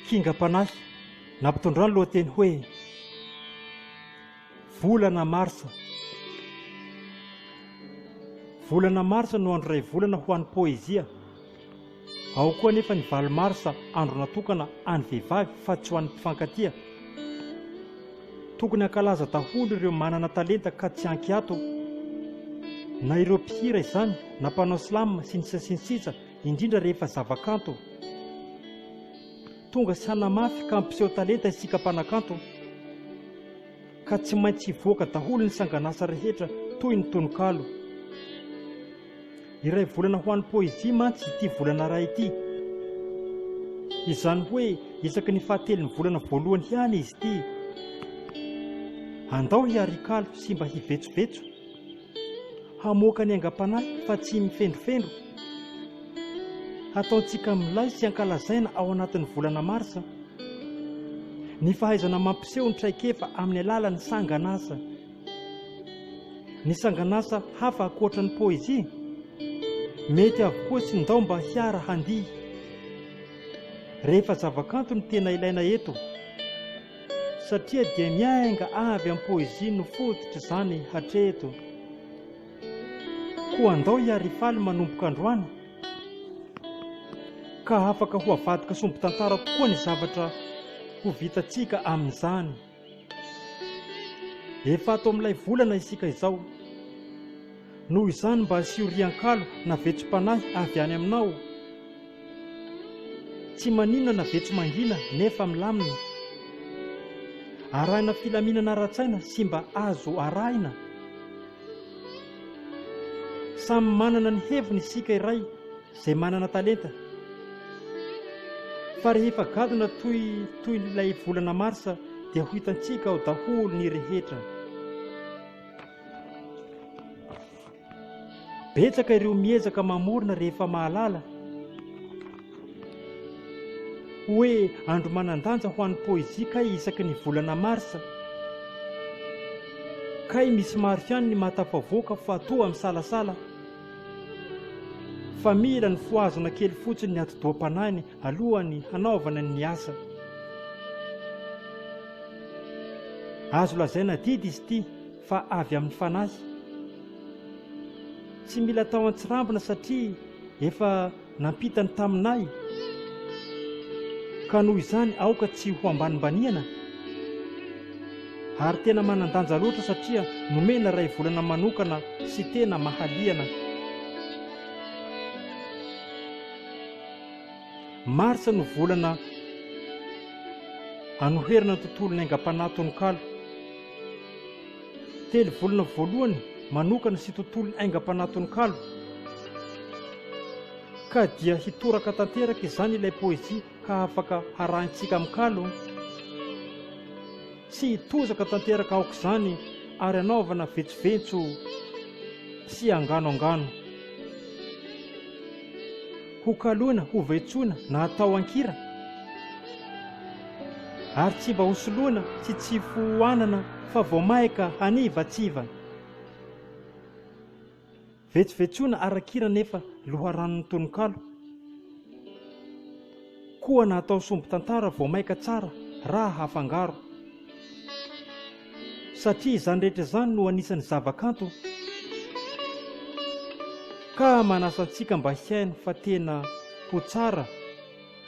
Kingam-panahy nampitondra ny lohateny hoe Volana marsa. Volana marsa no andro iray volana ho an'ny poezia. Ao koa anefa ny valo marsa, andro natokana an'ny vehivavy fa tsy ho an'ny mpifankatia. Tokony hankalaza daholo ireo manana talenta ka tsy ankiato, na ireo mpihira izany, na mpanao slam, sy ny sisa sy ny sisa, indrindra rehefa zavakanto Tonga sy hanamafy ka hampiseho talenta isika mpanakanto Ka tsy maintsy hivoaka daholo ny sanganasa rehetra toy ny tononkalo Iray volana ho an'ny poezia mantsy ity volana iray ity Izany hoe isaky ny fahatelon'ny volana voalohany ihany izy ity Andao hiarikalo sy mba hivetsovetso Hamoaka ny aingam-panahy fa tsy mifendrofendro. Hataontsika milay sy ankalazaina ao anatin'ny volana marsa ny fahaizana mampiseho ny traikefa amin'ny alalan'ny sanganasa. Ny sanganasa hafa ankoatra ny poezia mety avokoa sy ndao mba hiara-handihy. Rehefa zavakanto no tena ilaina eto. satria dia miainga avy amin'ny poezia no fototr'izany hatreto. Koa andao i Arifaly manomboka androany ka afaka ho avadika sombin-tantara tokoa ny zavatra ho vitantsika amin'izany. Efa ato amin'ilay volana isika izao. Noho izany mba asio riankalo na vetsom-panahy avy any aminao. Tsy maninona na be tsy mangina nefa milamina. Arahina filaminana ara-tsaina sy mba azo arahina. Samy manana ny heviny isika iray izay manana talenta. Fa rehefa gadona toy toy ilay volana marsa dia ho hitantsika ao daholo ny rehetra. Betsaka ireo miezaka mamorona rehefa mahalala hoe andro manan-danja ho an'ny poezia kay isaky ny volana marsa. Kay misy maro ihany ny mahatafavoaka fa toa misalasala fa mila ny fohazana kely fotsiny ny atidoha-panahiny alohan'ny hanaovana ny asa. Azo lazaina didy izy ity. fa avy amin'ny Fanahy. Tsy mila atao an-tsirambina satria efa nampita ny taminay, ka noho izany aoka tsy ho ambanimbaniana, ary tena manan-danja loatra satria nomena iray volana manokana sy tena mahaliana. Martsa no volana anoherana ny tontolon'ny aingam-panahy tononkalo. Telo volana voalohany manokana sy tontolon'ny aingam-panahy tononkalo. Ka dia hitoraka tanteraka izany ilay poezia ka afaka harahintsika amin'ny kalo. Tsy hitozaka tanteraka aok'izany ary hanaovana vetsoventso sy angano angano. Ho kaloina, ho vaitsoina na atao an-kira, ary tsy mba ho soloina sy tsy fohanana fa vao maika hanivatsiva. Vetsovetsoina ara-kira nefa loharanon'ny tononkalo. Koa na atao sombin-tantara vao maika tsara raha hafangaro. satria izany rehetra izany no anisan'ny zavakanto ka manasa antsika mba hihaino fa tena ho tsara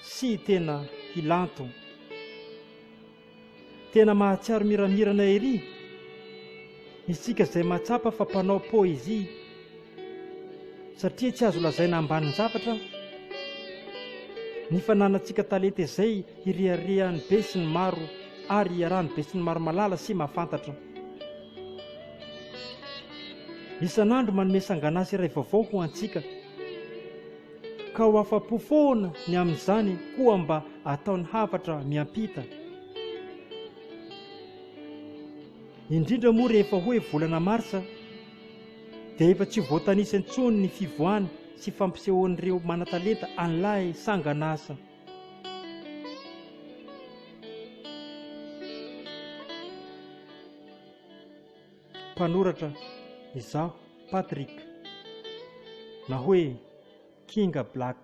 sy tena hilanto. Tena mahatsiaro miramirana ery isika izay mahatsapa fa mpanao poezia satria tsy azo lazaina ambanin-javatra ny fananantsika talenta izay hireharehan'ny be sy ny maro ary hiarahan'ny be sy ny maro malala sy mahafantatra. Isan'andro manome sanganasa iray vaovao ho antsika, ka ho afa-po foana ny amin'izany koa mba ataony hafatra miampita. Indrindra moa rehefa hoe volana marsa, dia efa tsy ho voatanisa intsony ny fivoahana sy fampisehoan'ireo manan-talenta an'ilay sangan'asa. Mpanoratra izaho Patrick na hoe Kinga Black.